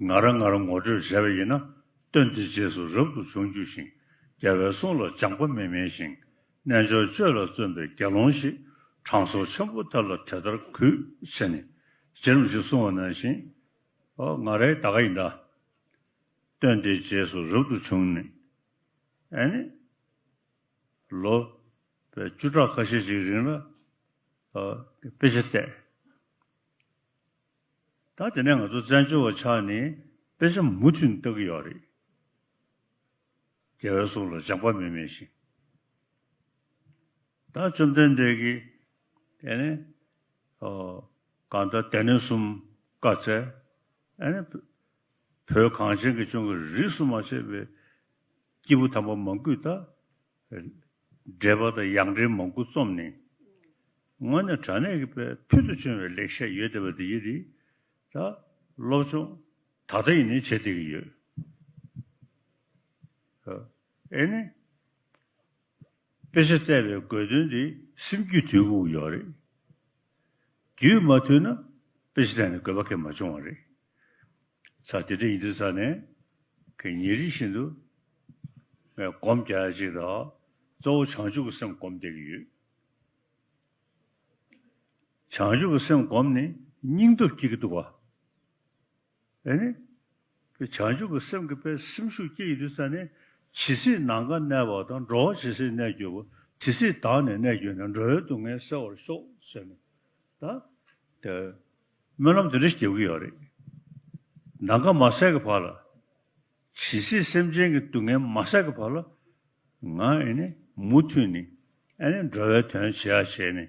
ང་རང་ང་རང་ངོ་སྤྲོད་བྱས་པ་ཡིན་ན་སྟོན་དེ་རྗེས་སུ་རབ་ཏུ་འབྱུང་རྒྱུ་ཞིང་རྒྱལ་བའི་གསུང་ལ་སྦྱངས་པ་མི་དམན་ཞིང་རྣལ་འབྱོར་སྤྱོད་ལ་བརྩོན་པའི་དགེ་སློང་ཞིག་དྲང་སྲོང་ཆེན་པོ་དེ་ལ་དེ་ལྟར་གུས་བྱས་ནས་རྗེ་རིམ་བཞིན་བསྲུང་བ་ནང་བཞིན། ཨོ་ང་རའི་ད་ག་ཡིན་ད། སྟོན་དེ་རྗེས་སུ་རབ་ཏུ་འབྱུང་ནས། ཨེ་ནི། ལོ། པའི་བཅུ་ཕྲག་ཁ་ཤས་ཤིག་རིང་ལ། དཔེ་ཆ་བལྟས། ད་དེ་ནས་ང་ཚོ་བཙན་བྱོལ་བ་ཆགས་ནས་དཔེ་ཆ་མུ་མཐུད་ནས་ལྟ་གི་ཡོད་རེད། རྒྱལ་བའི་གསུང་ལ་སྦྱང་པ་མི་མེད་བཞིན། ད་བཅོམ་ལྡན་འདས་ཀྱིས་དེ་ནས་གང་ལྟར་དེ་ནས་གསུམ་བཀའ་བསྩལ། ཨ་ནི་བོད་གངས་ཅན་གྱི་ལྗོངས་ཀྱི་རིས་སུ་མ་ཆད་པའི་སྐྱེས་བུ་དམ་པ་མང་པོས་ད་འགྲེལ་པ་དང་ཡང་འགྲེལ་མང་པོ་རྩོམ་ནི། དངོས་གནས་དྲ་གནས་ཀྱི་པའི་ཕུལ་དུ་བྱུང་བའི་ལེགས་བཤད་ཡོད་བསྡད་པ་འདི་ཡིན། ད་སློབ་ཆུང་ད་ལྟ་ཡིན་ནས་བྱེད་བསྡད་ཀྱི་ཡོད། ཨེ་ནི། དཔེ་ཆ་བལྟས་པའི་དགོས་དོན་དེ་སེམས་རྒྱུད་དུལ་པོ་ཡོད་རེད། རྒྱུས་མ་ཐུལ་ན་དཔེ་ཆ་དེ་ནི་དགོས་པ་གལ་མ་བྱུང་བ་རེད། ཚ་དེ་འདྲ་ཡིན་དུས་ཚ་ནས་གི་ཉེ་རིང་བཞིན་དུ་ངས་སྒོམ་རྒྱག་ཡ་ཅིག་དང་གཙོ་བོ་བྱང་ཆུབ་ཀྱི་སེམས་སྒོམ་བསྡད་ཀྱི་ཡོད། བྱང་ཆུབ་ཀྱི་སེམས་སྒོམ་ནི་སྙིང་སྟོབས་སྐྱེ་གི་འདུག་བ། ཨེ་ནི། ཀྱེ་བྱང་ཆུབ་པའི་སེམས་ཀྱི་དཔལ་སེམས་ཤུགས་སྐྱེད་ཡི་དུས་ས་ནི། ཇི་སྲིད་ནམ་མཁའ་གནས་པ་དང་འགྲོ་བ་ཇི་སྲིད་གནས་གྱུར་པ་དེ་སྲིད་དག་ནས་གནས་གྱུར་ནས་འགྲོ་བའི་སྡུག་བསྔལ་སེལ་བར་ཤོག་ཟེར་ནས་དང། དེ། སྨོན་ལམ་དེ་འདྲ་སྐྱེ་གི་ཡོད་རེད། ནམ་མཁའ་མ་སད་ཀྱི་བར་ལ། ཇི་སྲིད་སེམས་ཅན་གྱི་སྡུག་བསྔལ་མ་སད་ཀྱི་བར་ལ། ང་ཨེ་ནི། མུ་མཐུད་ནི། ཨེ་ནི་འགྲོ་བའི་དོན་བྱེད་ཡ་བྱས་ནས།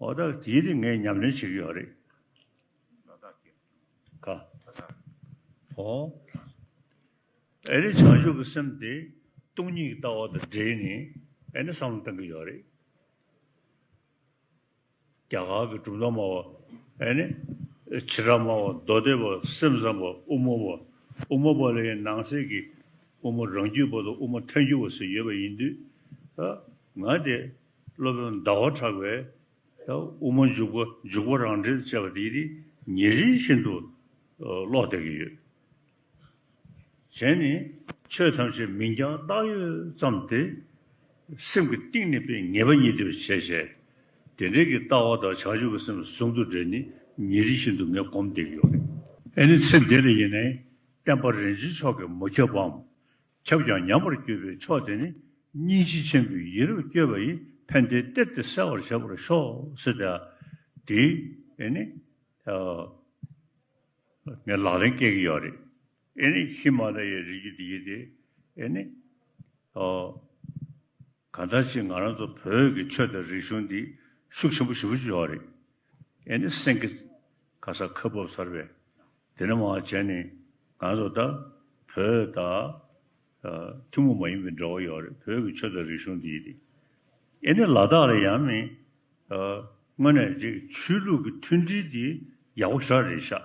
འོ་ད་དེའི་རིགས་ངས་ཉམས་ལེན་བྱེད་ཀྱི་ཡོད་རེད། ད་ལྟ་ཁྱེད་ཀྱིས། ཨོ། ཨེ་རེད་བྱང་ཆུབ་ཀྱི་སེམས་དེ་སྟོང་ཉིད་ཀྱི་ལྟ་བ་དང་སྦྲེལ་ནས་ཨེ་ནི་བསམ་བློ་གཏང་གི་ཡོད་རེད། རྒྱ་གར་གྱི་གྲུབ་མཐའ་སྨྲ་བ་ཨེ་ནི། ཕྱི་དྲག་སྨྲ་བ་མདོ་སྡེ་པ་སེམས་ཙམ་པ་དབུ་མ་པ། དབུ་མ་པ་ལས་ནང་གསེས་ཀྱི་དབུ་མ་རང་རྒྱུད་པ་དང་དབུ་མ་ཐལ་འགྱུར་བ་སོགས་ཡོད་པ་ཡིན་དུས། ང་དེ་སློབ་དཔོན་ཟླ་བ་གྲགས་པས་དབུ་མ་འཇུག་པ་འཇུག་པ་རང་འགྲེལ་དུ་བྱས་པ་འདི་ནི་ཉེ་རིང་ཤིན་ཏུ་ཀློག་བདེ་གི་ཡོད། གཞན་ནི་ཆོས་ཐམས་ཅད་མིང་རྐྱང་བཏགས་ཡོད་ཙམ་སྟེ། སེམས་ཀྱི་གཏིང་ནས་པའི་ངེས་པ་ཉིད་དེ་བས་ཆེས་ཞན། དེ་འབྲེལ་གྱི་ལྟ་བ་དང་བྱང་ཆུབ་ཀྱི་སེམས་ཟུང་དུ་འབྲེལ་ནི་ཉེ་རིང་ཤིན་ཏུ་ངས་སྒོམ་བདེ་གི་ཡོད། ཨེ་ནི་ཚེ་འདི་ལ་ཡིན་ནའི་བསྟན་པ་རིན་ཆེན་མཆོག་གིས་མ་ཁྱབ་བམ། ཁྱབ་ཀྱང་ཉམས་པར་གྱུར་པའི་ཕྱོགས་དེ་ནི་སྙིང་རྗེ་ཆེན་པོའི་ཡིད་རབ་བསྐྱོད་པ་ཡིས་ཕན་བདེའི་གཏེར་དེ་གསལ་བར་བྱས་པར་ཤོག། སི་ཏཱ། དེ་ནི། ངས་ལག་ལེན་བཀལ་གྱི་ཡོད་རེད། ཨེ་ནི། ཧི་མ་ལ་ཡའི་རི་རྒྱུད་དེ་ཡིན་ཏེ། ཨེ་ནི། ག་འདྲ་ཅིག་ང་རང་ཚོ་བོད་ཀྱི་ཆོས་དང་རིག་གཞུང་འདི་ཤུགས་ཆེན་པོ་ཞི་བ་ཅིག་ཡོང་བ་རེད། ཨེ་ནི་སེང་གེ། ཁ་སར་ཁ་སྦུབ་སར་བས། དེ་ནི་མ་བྱས་ནི་ང་ཚོ་ད་བོད་ད། ཐུན་མོང་མ་ཡིན་པའི་འབྲེལ་བ་ཡོད་རེད་བོད་ཀྱི་ཆོས་དང་རིག་གཞུང་འདི་དེ། ཨེ་ནི་ལ་དྭགས་ལ་ཡང་ནི། དངོས་ནས་ཆོས་ལུགས་ཀྱི་མཐུན་སྒྲིལ་འདི་ཡག་པོ་ཤོར་རེད་ཤག།